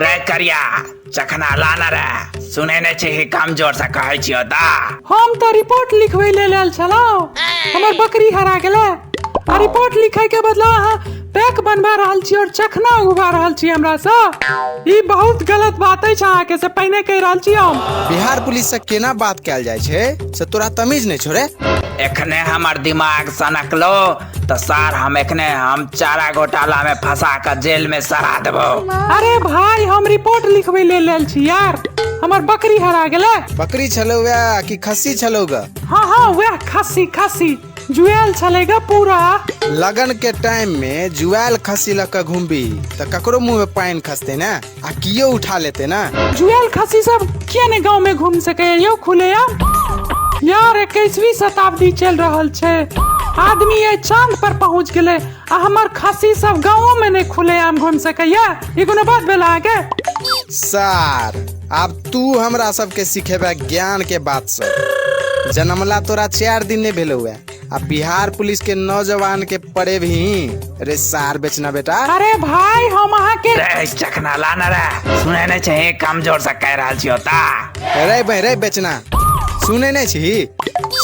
रे करिया चखना लाना रे सुने ने छी कि कम जोर से कहै छियो ता हम तो रिपोर्ट लिखवे ले लेल छलो हमर बकरी हरा गेले आ रिपोर्ट लिखे के बदला अहाँ पैक बनवा रहल छी और चखना उगवा रहल छी हमरा से ई बहुत गलत बात अछि अहाँ के से पहिने कह रहल छी हम बिहार पुलिस से केना बात कैल जाय छै से तोरा तमीज नहीं छोड़े एखने हमर दिमाग सनकलो तऽ सर हम एखने हम चारा घोटाला में फंसा के जेल में सरा देबो अरे भाई हम रिपोर्ट लिखबै ले लेल छी यार हमर बकरी हरा गेलै बकरी छलौ वएह कि खस्सी छलौ ग हाँ हाँ वह खस्सी खस्सी जुएल छलै ग पूरा लगन के टाइम में जुआल खस्सी लऽ कऽ घूमबी तऽ ककरो मुंह में पानि खसते ने आ कियो उठा लेते ना जुएल खसी सब किया ने गांव में घूम सके यो खुलेआम यार इक्कीसवीं शताब्दी चल रहल छै आदमी ये चांद पर पहुंच गेले आ हमर खसी सब गांव में ने खुलेआम घूम सकैया ई कोनो बात भेल अहाँके सार आब तू हमरा सबके सिखेबे ज्ञान के बात सब जनमला तोरा चार दिन नहीं भेलो हुआ आ बिहार पुलिस के नौजवान के पड़े भी रे सार बेचना बेटा अरे भाई हम अहाँ के रे चखना लाना रे सुने नहीं चाहिए कमजोर से कह रहा छी होता रे बे रे बेचना सुने नहीं छी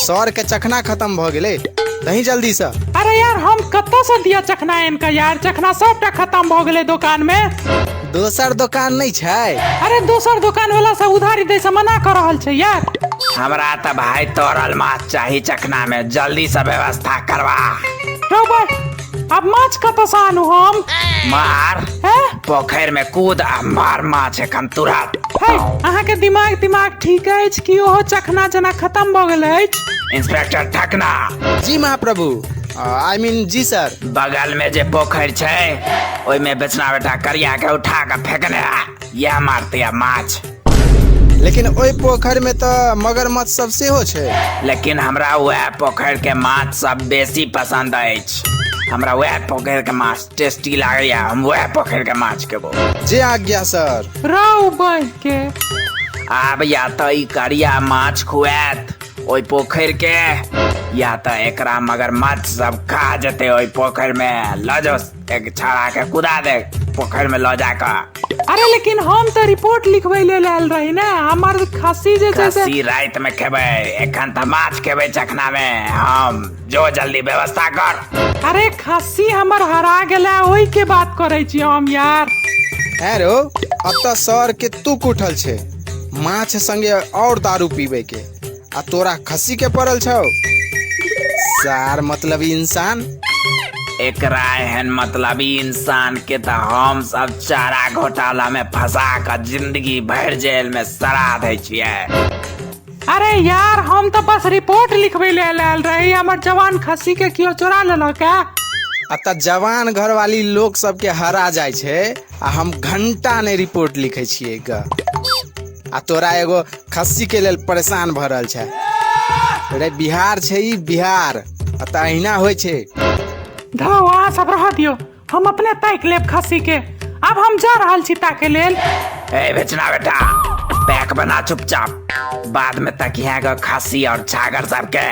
सर के चखना खत्म भ गेले तही जल्दी से अरे यार हम कतऽ से दिया चखना इनका यार चखना सबटा खत्म भऽ गेलै दुकान में दोसर दोकान नहि छै अरे दोसर दोकान वाला सब उधारी दै से मना कर रहल छै यार हमरा तऽ भाय तोरल माछ चाही चखना में जल्दी से व्यवस्था करवा रौ भाय अब माछ कतऽ से आनू हम मार हैं पोखरि में कूद आ मार माछ एखन तुरंत है अहाँके दिमाग दिमाग ठीक अछि कि ओहो चखना जेना खत्म भऽ गेल अछि इंस्पेक्टर ठकना जी महाप्रभु आई मीन जी सर बगल में जे पोखरि छै ओहि में बेचना बेटा करिया के उठा के फेंकने है यह मारते है माछ लेकिन ओहि पोखरि में तो मगरमच्छ सब सेहो छै लेकिन हमरा वह पोखरि के माछ सब बेसी पसंद अछि हमरा वह पोखरि के माछ टेस्टी लागैया हम वह पोखरि के माछ खेबो जे आज्ञा सर राव बांहि के आब या तो ई करिया माछ खुआत ओहि पोखरि के या तऽ एकरा मगरमच्छ सब खा जेतै ओहि पोखरि मे लऽ जाओ एक छड़ा के कुदा दे पोखरि मे लऽ जा कऽ अरे लेकिन हम तऽ रिपोर्ट लिखबै लेल आयल रही ने हमर खस्सी जे छै से खस्सी राति मे खेबै एखन तऽ माछ खेबै चखना मे हम जो जल्दी व्यवस्था कर अरे खस्सी हमर हरा गेलै ओहि के बात करै छी हम यार हेरो अतः सर के तुक उठल छै माछ संगे और दारू पीबे के आ तोरा खस्सी के पड़ल छौ सार मतलब इंसान एकरा एहन मतलबी इंसान के त हम सब चारा घोटाला में फंसा क जिंदगी भर जेल में सड़ा दै छियै अरे यार हम तो बस रिपोर्ट लिखबे ले लाल रही हमर जवान खस्सी के कियो चोरा लेलक है अतः जवान घरवाली लोग सबके हरा जाइ छै आ हम घण्टा नहि रिपोर्ट लिखै छियै ग आ तोरा एगो खस्सी के लेल परेशान भऽ रहल छै रे बिहार छै ई बिहार आ तऽ अहिना होइ छै धौ अहाँ सब रह दियौ हम अपने ताकि लेब खस्सी के आब हम जा रहल छी ताके लेल ए बेचना बेटा पैक बना चुपचाप बाद में तकिया ग खस्सी और छागर सबके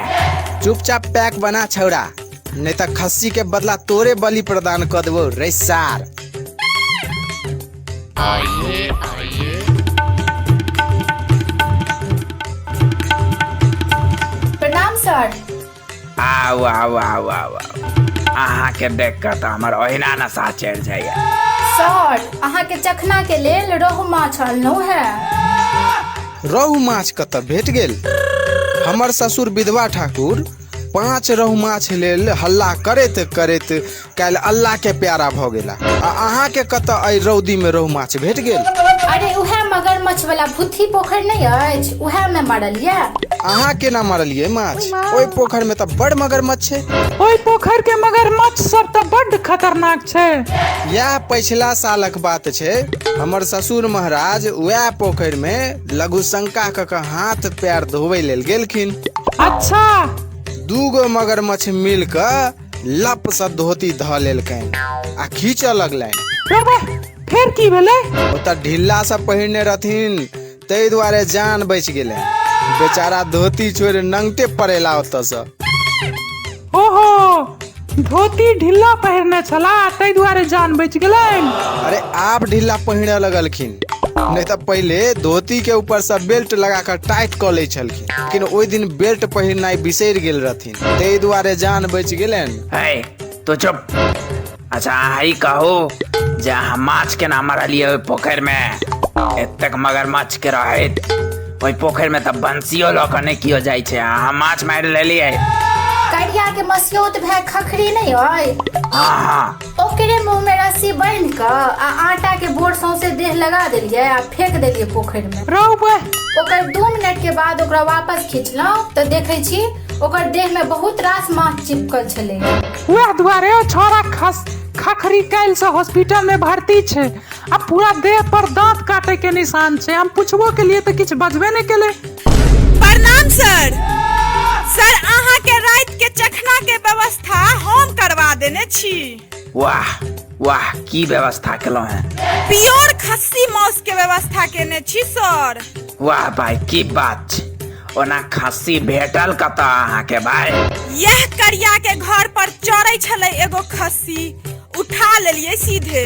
चुपचाप पैक बना छौड़ा नहीं तो खस्सी के बदला तोरे बलि प्रदान कर देबो रे सार प्रणाम सर आउ आउ आउ आउ अहाँ के देख के तो हमर ओहिना नशा चढ़ जाइए सर अहाँ के चखना के लेल रोहु माछ अनलहुँ है रोहु माछ कतऽ भेट गेल हमर ससुर विधवा ठाकुर पाँच रहु माछ लेल हल्ला करैत करैत काल्हि अल्लाह के प्यारा भऽ गेला आ अहाँ के कतऽ एहि रौदी में रहु माछ भेट गेल अरे उहे मगरमच्छ वाला भूथी पोखरि नहीं अछि उहे में मरल ये अहाँ केना मारलियै माछ ओहि पोखरि में तऽ बड़ मगरमच्छ छै ओहि पोखर के मगरमच्छ सब तऽ बड्ड खतरनाक छै इएह पछिला सालक बात छै हमर ससुर महाराज उएह पोखरि में लघुशंका कऽ कऽ हाथ पैर धोबै लेल गेलखिन अच्छा दूगो मगरमच्छ मिल कऽ लप सँ धोती धऽ लेलकनि आ खींचऽ लगलनि रे बा, फेर की भेलै ओतऽ ढीला सँ पहिरने रहथिन ताहि दुआरे जान बचि गेलै बेचारा धोती छोड़ि नंगटे पड़ेला ओतऽ सँ ओहो धोती ढीला पहिरने छला ताहि दुआरे जान बच गेलनि अरे आप ढीला पहिरे लगलखिन नहीं तो पहले धोती के ऊपर से बेल्ट लगा कर टाइट कर ले छलखिन लेकिन ओहि दिन बेल्ट पहिरनाइ बिसरि गेल रहथिन ताहि दुआरे जान बच गेलनि है तो चुप अच्छा अहाँ ई कहू जे अहाँ माछ केना मारलियै ओहि पोखरिमे एतेक मगरमच्छ के रहैत ओहि पोखरिमे तऽ बंसियो लऽ कऽ नहि कियो जाइ छै अहाँ माछ मारि लेलियै करिया के मसियोत भए खखरी नहीं है हँ हँ ओकरे मुंह में रस्सी बांध के आ आटा के बोर सौंसे देह लगा देलिए आ फेंक देलिए पोखरि में रौ बे ओकर दू मिनट के बाद ओकरा वापस खींचलहुं तो देखे छी ओकर देह में बहुत रास मांस चिपकल छले वह दुआरे ओ छोरा खस खखरी कैल से हॉस्पिटल में भर्ती छे आ पूरा देह पर दांत काटे के निशान छे हम पूछबो के लिए तो कुछ बजबे नहीं केले प्रणाम सर सर अहाँ के रात के चखना के व्यवस्था हम करवा देने छी वाह वाह की व्यवस्था केलहुँ हैं प्योर खस्सी मांस के व्यवस्था केने छी सर वाह भाई की बात छै ओना खस्सी भेटल कतऽ अहाँके भाई यह करिया के घर पर चढ़े छले एगो खस्सी उठा लेलिए सीधे